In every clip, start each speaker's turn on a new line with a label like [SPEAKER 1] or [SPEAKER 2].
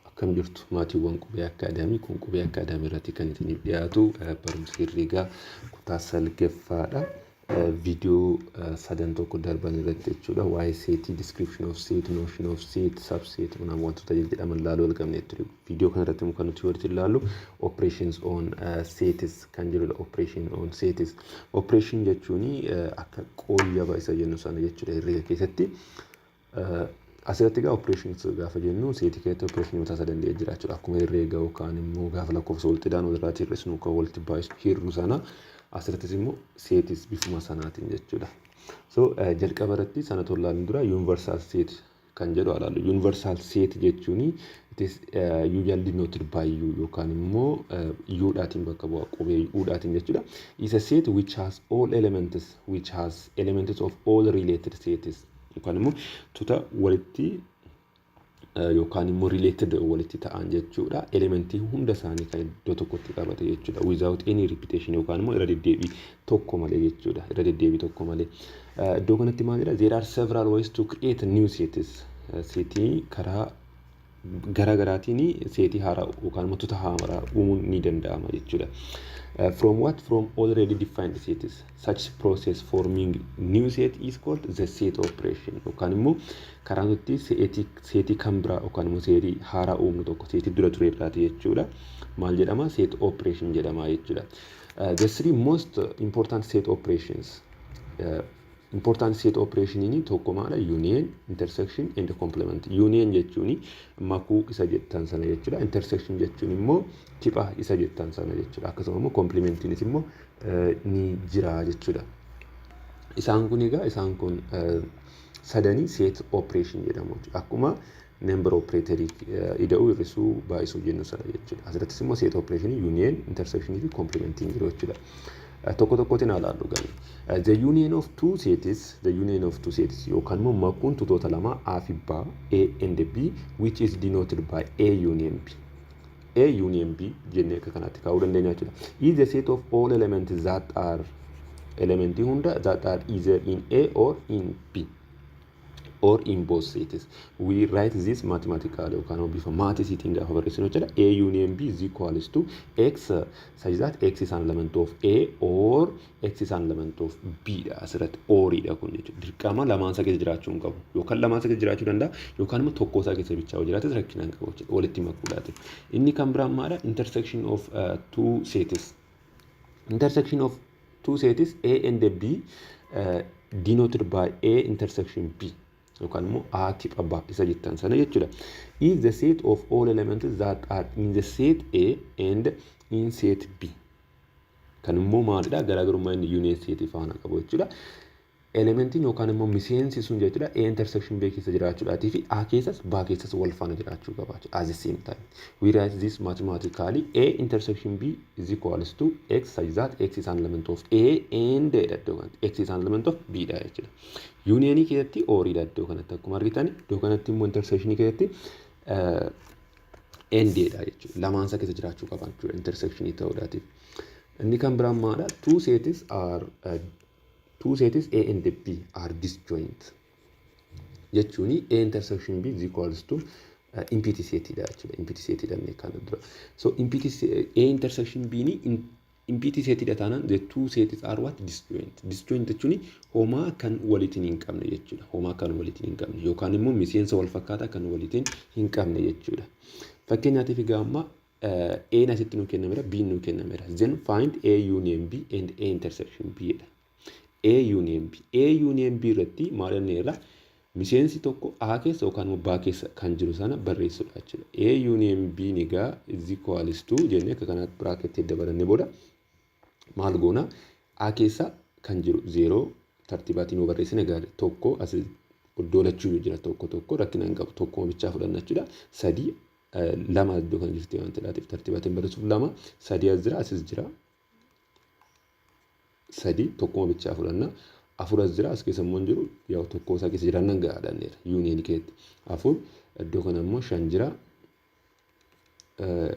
[SPEAKER 1] Akkam jirtu maatiiwwan qubee akkaadaamii kun qubee akkaadaamii irratti kan isiniif dhiyaatu eh, barumsa herreegaa kutaa salgaffaadha. Eh, Viidiyoo eh, sadan tokko darban irratti jechuudha waa'ee seetii, description of set, notion of set, subset unaam wantoota jedhaman ilaaluu argamne ture. Viidiyoo kana irratti immoo kan nuti walitti ilaallu operations on eh, sets kan jedhudha operation on sets. Operation jechuun akka qooyyaba isa jennu sana jechuudha herreega keessatti. Asirratti egaa operations gaafa jennu seetii keessatti operation mataa isaa danda'e jira jechuudha. Akkuma herreega yookaan immoo gaafa lakkoofsa walitti ida'an walirraatti hir'isnu kan walitti baay'isu hir'u sana asirrattis immoo seetis bifuma sanaatiin jechuudha. So jalqaba irratti sana tola ilaaluu dura universal set kan jedhu ilaalu. Universal set jechuun it is usually denoted by u yookaan immoo u dhaatiin bakka bu'a qubee u dhaatiin jechuudha. Is a set which has all elements which has elements of all related sets yookaan immoo tuta walitti yookaan immoo related walitti ta'an jechuudha. Elementii hunda isaanii kan iddoo tokkotti qabate jechuudha. Without any repetition yookaan immoo irra deddeebii tokko malee jechuudha. Irra deddeebii tokko malee. Iddoo kanatti maalidha? There are several ways to create new sets. Seetii karaa garaa garaatiin seetii haaraa yookaan immoo tuta haaraa uumuun ni danda'ama jechuudha. From what from already defined sets such process forming new set is called the set operation yookaan immoo karaa nuti seetii seetii kan biraa yookaan immoo seetii haaraa uumnu tokko seetii dura ture irraati jechuudha. Maal jedhama set operation jedhama jechuudha. The three most important set operations Important set operationini tokko maala union, intersection and complement. Union jechuun makuu isa jettan sana jechuudha. Intersection jechuun immoo kipha isa jettan sana jechuudha. Akkasuma immoo complementinis immoo ni jira jechuudha. Isaan kun egaa isaan kun sadanii set operation jedhamu jechuudha. Akkuma member operator ida'uu hir'isuu baay'isuu jennu sana jechuudha. Asirrattis immoo set operation union intersection fi complementing jiru jechuudha. Tokko tokkotti naa laallu gani. The union of two sets, the union of two sets yookaan immoo makuun tutoota lama A fi B, A and B which is denoted by A union B. A union B jennee akka kanaatti kaa'uu dandeenya jechuudha. Is the set of all elements that are elementii hunda that are either in A or in B. or in both sets. We write this mathematically yookaan immoo bifa maatisiitiin gaafa barreessinu jechuudha. A union B is equals to X such that X is an element of A or X is an element of B dha asirratti or dha kun jechuudha. Dirqama lamaan isaa keessa jiraachuu hin qabu. Yookaan lamaan isaa keessa jiraachuu danda'a yookaan immoo tokkoo isaa keessa bichaa yoo jiraates rakkina hin qabu jechuudha. Walitti makuudhaati. Inni kan biraan maalidha? Intersection of uh, two sets. intersection of two sets A and B uh, denoted by A intersection B yookaan immoo A tip abbaa isa jettan sana jechuudha. Is the set of all elements that are in the set A and in set B. Kan immoo maalidha garaagarummaa inni unit set faana qabu jechuudha. Elementiin yookaan immoo miseensi sun jechuudha A intersection B keessa jiraachuudhaatii fi A keessas B keessas wal faana jiraachuu qaba jechuudha. As the same time. We write this mathematically A intersection B is equals to X such that X is an element of A and dha iddoo kanatti. X is an element of B dha jechuudha. Yuuniyeenii keessatti oorii dha iddoo kanatti akkuma argitan iddoo kanatti immoo intersection keessatti and dha jechuudha. Lamaan isaa keessa jiraachuu qaba jechuudha intersection ta'uudhaatiif. Inni kan biraan maadha? Two sets are uh, Two sets A and B are disjoint jechuun A intersection B is equals to empty set dha jechuudha. Empty set dha inni kana dura. So empty A intersection B ni empty set dha taanaan the two sets are what disjoint. Disjoint jechuun homaa kan walitiin hin qabne jechuudha. Homaa kan walitiin hin qabne yookaan immoo miseensa wal fakkaataa kan walitiin hin qabne jechuudha. Fakkeenyaatiif egaa amma eh, A'n asitti nuu kennameera, B'n nuu kennameera. Then find A union B and A intersection B jedha. A union B. A union B irratti maal jenneerra? Miseensi tokko A keessa yookaan immoo B keessa kan jiru sana barreessuudha jechuudha. A union B ni gaa is equals to jennee akka kanaatti biraaketii dabalannee booda maal goona? A keessa kan jiru zeeroo tartiibaatiin yoo barreessine gaari tokko as iddoo lachuu jira tokko tokko rakkina hin qabu tokkuma bichaa fudhanna jechuudha. Sadii lama iddoo kan jirti waan ta'eef tartiibaatiin barreessuuf lama sadii as jira asis jira sadii tokkuma bichaa fudhanna afur as jira as keessa immoo hin jiru yaa tokkoo isaa keessa jiraannan gahaadhanneera yuuniin keetti afur iddoo kana immoo shan jira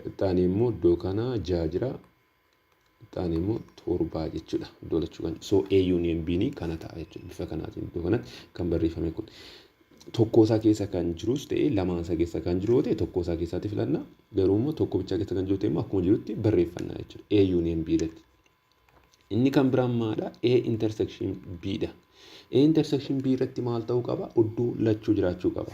[SPEAKER 1] ixaanii immoo iddoo kana jaha jira Taan immoo torbaa jechuudha. Iddoo lachuu kan so A union B ni kana ta'a jechuudha. Bifa kanaatiin iddoo kanatti kan barreeffame kun. Tokkoo isaa keessa kan jirus ta'e lamaan isaa keessa kan jiru yoo ta'e tokkoo isaa keessaatti filanna. Garuu immoo tokko bichaa keessa kan jiru ta'e immoo akkuma jirutti barreeffanna jechuudha. A union B irratti. Inni kan biraan maadha? A intersection B dha. A intersection B irratti maal ta'uu qaba? Iddoo lachuu jiraachuu qaba.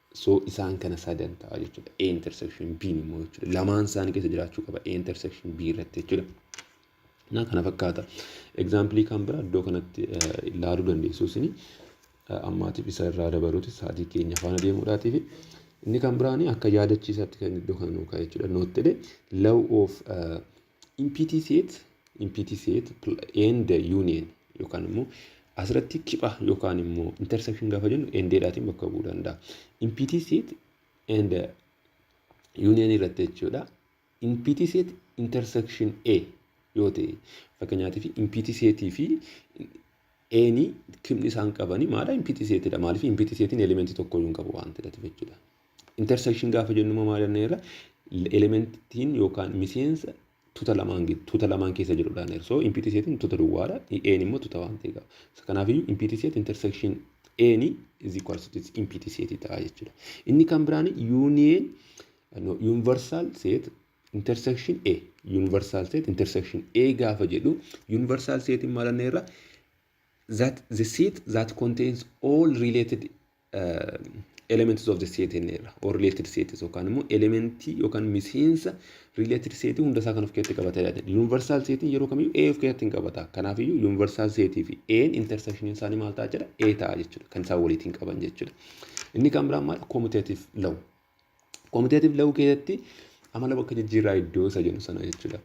[SPEAKER 1] So isaan kana sadan ta'a jechuudha. A intersection B immoo jechuudha. Lamaan isaanii keessa jiraachuu qaba. A intersection B irratti jechuudha. Naa kana fakkaata. Egzaampilii kan biraa iddoo kanatti ilaaluu dandeessu isin ammaatiif isa irraa dabaluuti sa'aatii keenya faana deemuudhaatiif. Inni kan biraan akka yaadachiisaatti kan iddoo kana nuu kaa'e jechuudha. Noottilee law of Impiti seet, impiti seet and union yookaan immoo asirratti kipha yookaan immoo intersection gaafa jennu endeedhaatiin bakka bu'uu danda'a. Impiti seet and union irratti jechuudha. Impiti seet intersection A yoo ta'e fakkeenyaaf impiti seetii fi eeni kibni isaan qabanii maadha impiti seetidha maaliif impiti seetiin elementii tokko hin qabu waan ta'eef jechuudha. Intersection gaafa jennu immoo maal jennee irra elementiin yookaan miseensa tuta lamaan gid- tuta lamaan keessa jirudha jennee irra. So impiitii seetiin tuta duwwaadha. E'n immoo tuta waan ta'e qaba. So kanaafiyyuu impiitii seet intersection E'n is equals to impiitii seetii ta'a jechuudha. Inni kan biraan union no, universal set intersection A universal set intersection A gaafa jedhu universal seetiin maal jennee irra that the set that contains all related elements of the set jenneerra or related sets yookaan immoo elementii yookaan miseensa related set hunda isaa kan of keessatti qabata yaada universal set yeroo kamiyyuu A of keessatti hin qabata kanaafiyyuu universal set fi A intersection isaanii maal ta'a jedha A ta'a jechuudha kan isaan waliitiin qaban jechuudha inni kan biraan maal commutative law Quantitative law keessatti amala bakka jijjiirraa iddoo isa jennu sana jechuudha.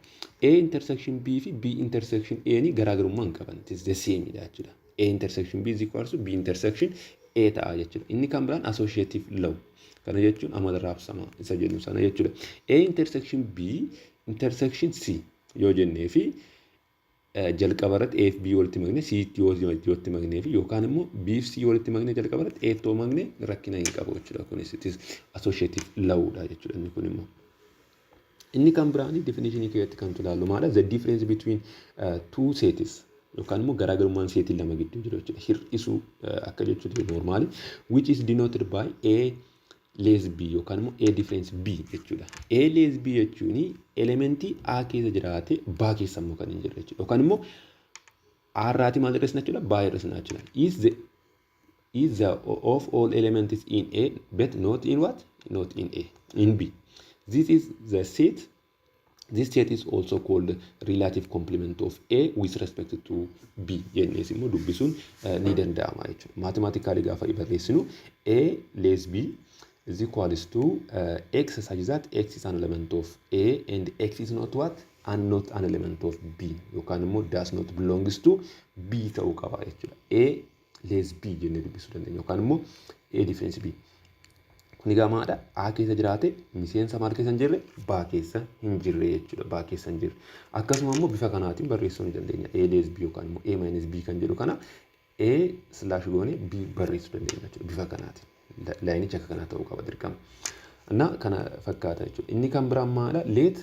[SPEAKER 1] A intersection B fi B intersection A ni garaagarummaa hin qaban. It is the same dha jechuudha. A intersection B is equals to B intersection A ta'a jechuudha. Inni kan biraan associative law. Kana jechuun amala raabsamaa isa jennu sana jechuudha. A intersection B intersection C yoo jennee fi jalqaba irratti A fi B walitti makne C tti yoo walitti maknee fi yookaan immoo B fi C walitti makne jalqaba irratti A tti yoo makne rakkina hin qabu jechuudha. Kunis it is associative law dha jechuudha inni kun immoo. Inni kan biraanii definishinii keessatti kan tulaallu maala the difference between uh, two sets yookaan immoo garaagarummaan seetii lama gidduu jiru jechuudha. Hir'isuu uh, akka jechuuti normaali which is denoted by A lees B yookaan immoo A difference B jechuudha. A lees B jechuun elementii A keessa jiraate B keessa immoo kan hin jirre jechuudha. Yookaan immoo A irraati maal irra jechuudha? B irra jechuudha. Is the is the of all elements in A but not in what? Not in A. In B. This is the set This state is also called relative complement of A with respect to B jennees immoo dubbisuun eh, ni danda'ama jechuudha. Maatimaatikaali gaafa barreessinu A less B is equals to uh, X such that X is an element of A and X is not what? And not an element of B yookaan immoo does not belongs to B ta'uu qaba jechuudha. A lees B jennee dubbisuu dandeenya yookaan immoo A difference B. Kun egaa maadha A keessa jiraate miseensa maal keessa hin jirre B keessa hin jirre jechuudha B keessa hin jirre. Akkasuma immoo bifa kanaatiin barreessuu ni dandeenya A lees B yookaan immoo A minus B kan jedhu kana A slash goone B barreessuu dandeenya jechuudha bifa kanaatiin. Laayinichi akka kanaa ta'uu qaba dirqama. Innaa kana fakkaata jechuudha. Inni kan biraan maadha leet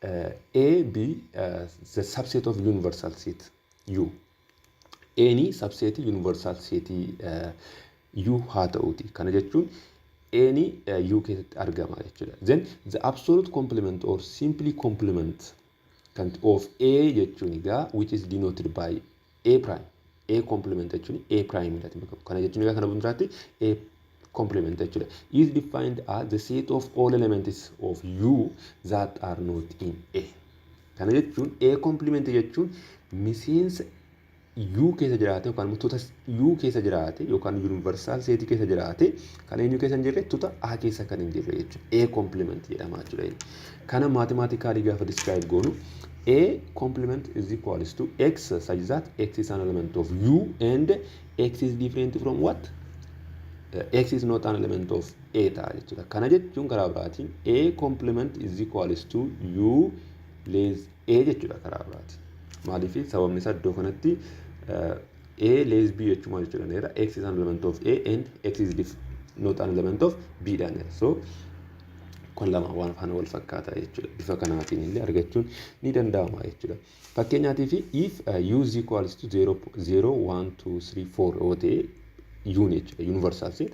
[SPEAKER 1] A B the subset of universal set U A ni subseetii universal seetii U haa ta'uuti kana jechuun A ni U keessatti argama jechuudha then the absolute complement or simply complement kan of A jechuun egaa which is denoted by a prime a complement jechuun a prime irratti bakka kana jechuun egaa kana bundiraatti a complement jechuudha is defined as the set of all elements of u that are not in a kana jechuun a complement jechuun miseensa u keessa jiraate yookaan immoo tuuta u keessa jiraate yookaan yuunivarsaal seetii keessa jiraate Kan eenyu keessa hin jirre? Tuta A keessa kan hin jirre jechuudha. A complement jedhama jechuudha inni. Kana mathematically gaafa describe goonu A complement is equals to X such that X is an element of U and X is different from what? X is not an element of A ta'a jechuudha. Kana jechuun karaa biraatiin A complement is equals to U less A jechuudha karaa biraatiin. Maaliif sababni isaa iddoo kanatti A less B jechuun maal jechuudha jedheera X is an element of A and X is dif not an element of B dhaan jedha. So kun lama waan faana wal fakkaata jechuudha. Bifa kanaatiin illee argachuun ni danda'ama jechuudha. Fakkeenyaatiif if uh, u is equals to 0, 0, 1, 2, 3, 4 yoo ta'e yuun jechuudha universal set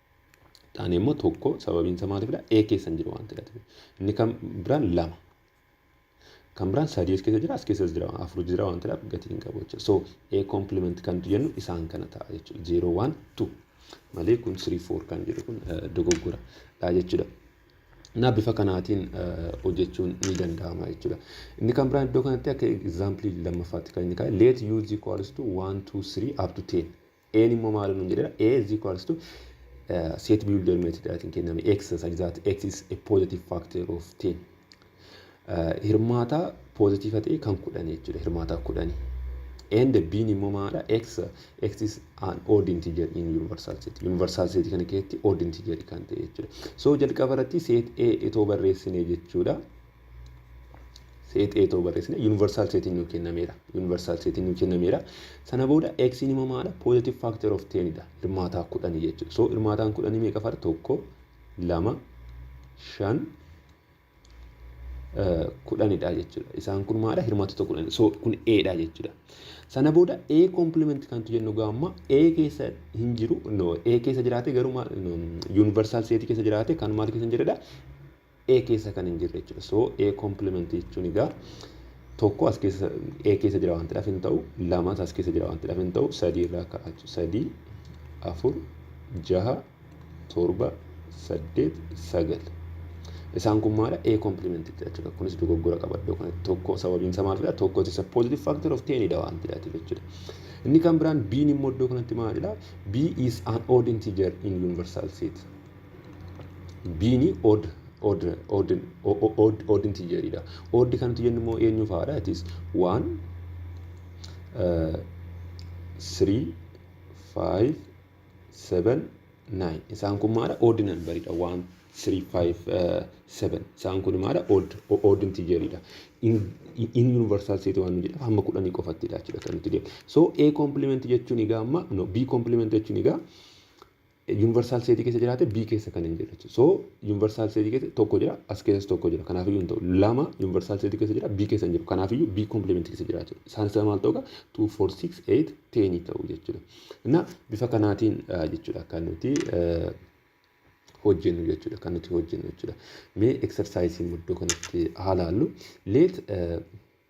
[SPEAKER 1] taane immoo tokko sababiin isaa maaliifidha? A keessa hin jiru waan ta'eef. Inni kan biraan lama. Kan biraan sadii as keessa jira as keessas jira afur jira waan ta'eef gatii hin qabu jechuudha. So A complement kan nuti jennu isaan kana ta'a jechuudha. Zeeroo waan tu malee kun sirii foor kan jedhu kun dogoggora dha jechuudha. Naa bifa kanaatiin hojjechuun ni danda'ama jechuudha. Inni kan biraan iddoo kanatti akka egzaampilii lammaffaatti kan inni kaa'e let u is equals to 1 2 3 up to 10 A'n immoo maal nuun jedheera? A is equals to uh, set builder method dhaatiin kenname x such that x is a positive factor of 10. Uh, hirmaataa poozitiifa ta'e kan kudhan jechuudha hirmaataa kudhani. And b'n immoo maadha? x x is an odd integer in universal set. Universal set kana keessatti odd integer kan ta'e jechuudha. So jalqaba irratti set a itoo barreessine jechuudha. Seet A ta'uu barreessina. Universal seetiin nuu kennameera. Universal seetiin nuu kennameera. Sana booda X immoo maala? Positive factor of 10 dha. Hirmaataa kudhanii jechuudha. So hirmaataan kudhanii meeqa fara? Tokko, lama, shan, kudhanidha jechuudha. Isaan kun maala? Hirmaattota kudhanii. So kun A dha jechuudha. Sana booda A complement kantu jennu gaamma A keessa hin jiru. No, A keessa jiraate garuu universal seetii keessa jiraate kan maal keessa hin jirredha? A keessa kan hin jirre jechuudha. So A complement jechuun egaa tokko as keessa A keessa jira waan ta'eef hin ta'u lamas as keessa jira waan ta'eef hin ta'u sadii irraa ka'a jechuudha. Sadii afur jaha torba saddeet sagal. Isaan kun maadha A complement jechuudha. Kunis dogoggora qaba iddoo kanatti tokko sababiin isaa maalidha tokko isa positive factor of 10 dha waan ta'eef jechuudha. Inni kan biraan B'n immoo iddoo kanatti maalidha? B is an odd integer in universal set. Biini odd odd odd odd odd intijeridha. Odd kan nuti jennu immoo eenyu fa'aadha? It is 1 3 5 7 9 isaan kun maadha? Odd nambaridha. 1 3 5 7 isaan kun maadha? Odd odd intijeridha. In universal set waan nu jedhamu hamma kudhanii qofattidha jechuudha kan nuti deemu. So A complement jechuun egaa amma no B complement jechuun egaa Universal set keessa jiraate B keessa kan hin jirre jechuudha. So universal set keessa tokko jira as keessas tokko jira kanaaf iyyuu hin ta'u. Lama universal set keessa jira B keessa hin jiru kanaaf iyyuu B complement keessa jira jechuudha. Isaan isaa maal ta'u egaa 2 4 6 8 10 ta'u jechuudha. Innaa bifa kanaatiin jechuudha kan nuti hojjennu jechuudha kan nuti hojjennu jechuudha. Mee exercise muddoo kanatti haa laallu. Let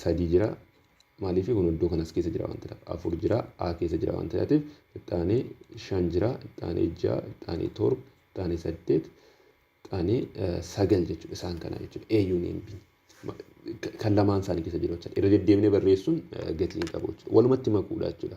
[SPEAKER 1] sadii jira. Maaliif kun iddoo kanas keessa jira waan ta'eef afur jira A keessa jira waan ta'eef ittaanee shan jira ittaanee ja'a ittaanee torba ittaanee saddeet ittaanee sagal jechuudha isaan kana jechuudha A union B kan lamaan isaanii keessa jiru jechuudha irra deddeebinee barreessuun gatii hin qabu jechuudha walumatti makuudha jechuudha.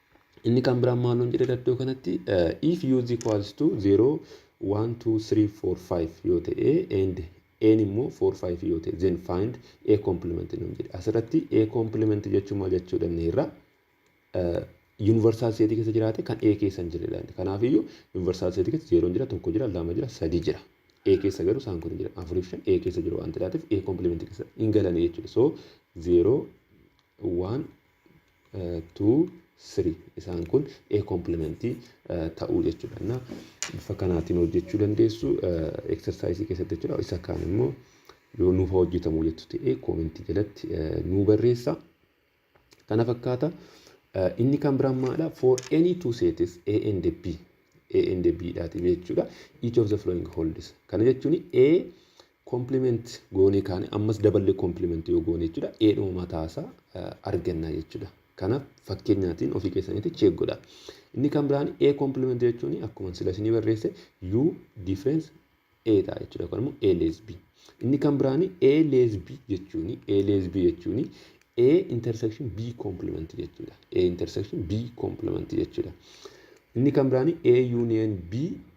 [SPEAKER 1] Inni kan biraan maal nuun jedheera iddoo kanatti if u is equals to 0 1 2 3 4 5 yoo ta'e and n immoo 4 5 yoo ta'e then find a complement nuun jedhe asirratti a complement jechuun maal jechuu dandeerra yuunivarsaal seetii keessa jiraate kan a keessa hin jirredha kanaaf iyyuu yuunivarsaal seetii keessa zeeroon jira tokko jira lama jira sadii jira a keessa garuu isaan kun hin jiran afuriif shan a keessa jiru waan ta'eef a complement keessa hin galan jechuudha so zeeroo waan 2 3 isaan kun A kompilimentii ta'uu jechuudha. Na bifa kanaatiin hojjechuu dandeessu eksarsaayisii keessatti jechuudha. Isa kaan immoo yoo nuuf hojjetamu jettu ta'e koomentii jalatti nuu barreessa. Kana fakkaata. Inni kan biraan maalidha? For any two sets A and B A and B dhaati jechuudha. Each of the following holds. Kana jechuun A Compliment goonee kaane ammas daballee compliment yoo goone jechuudha eedhuma mataasaa arganna jechuudha. Kanaaf fakkeenyaatiin ofii keessanitti check godha. Inni kan biraan A compliment jechuun akkuma sila isinii barreesse U difference A ta'a jechuudha yookaan immoo A less B. Inni kan biraan A less B jechuun A less B jechuun A intersection B compliment jechuudha. A intersection B compliment jechuudha. Inni kan biraan A union B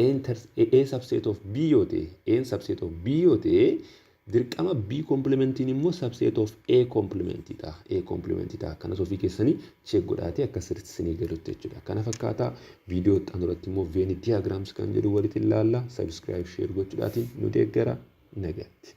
[SPEAKER 1] A inter A subset of B yoo ta'e A in subset of B yoo ta'e dirqama B complementiin immoo subset of A complementii ta'a A complementii ta'a kanas ofii keessanii check godhaatee akka sirriitti isinii galutti jechuudha kana fakkaataa viidiyoo itti aanuratti immoo veeni diagrams kan jedhu walitti ilaalla subscribe share gochuudhaatiin nu deeggara nagaatti.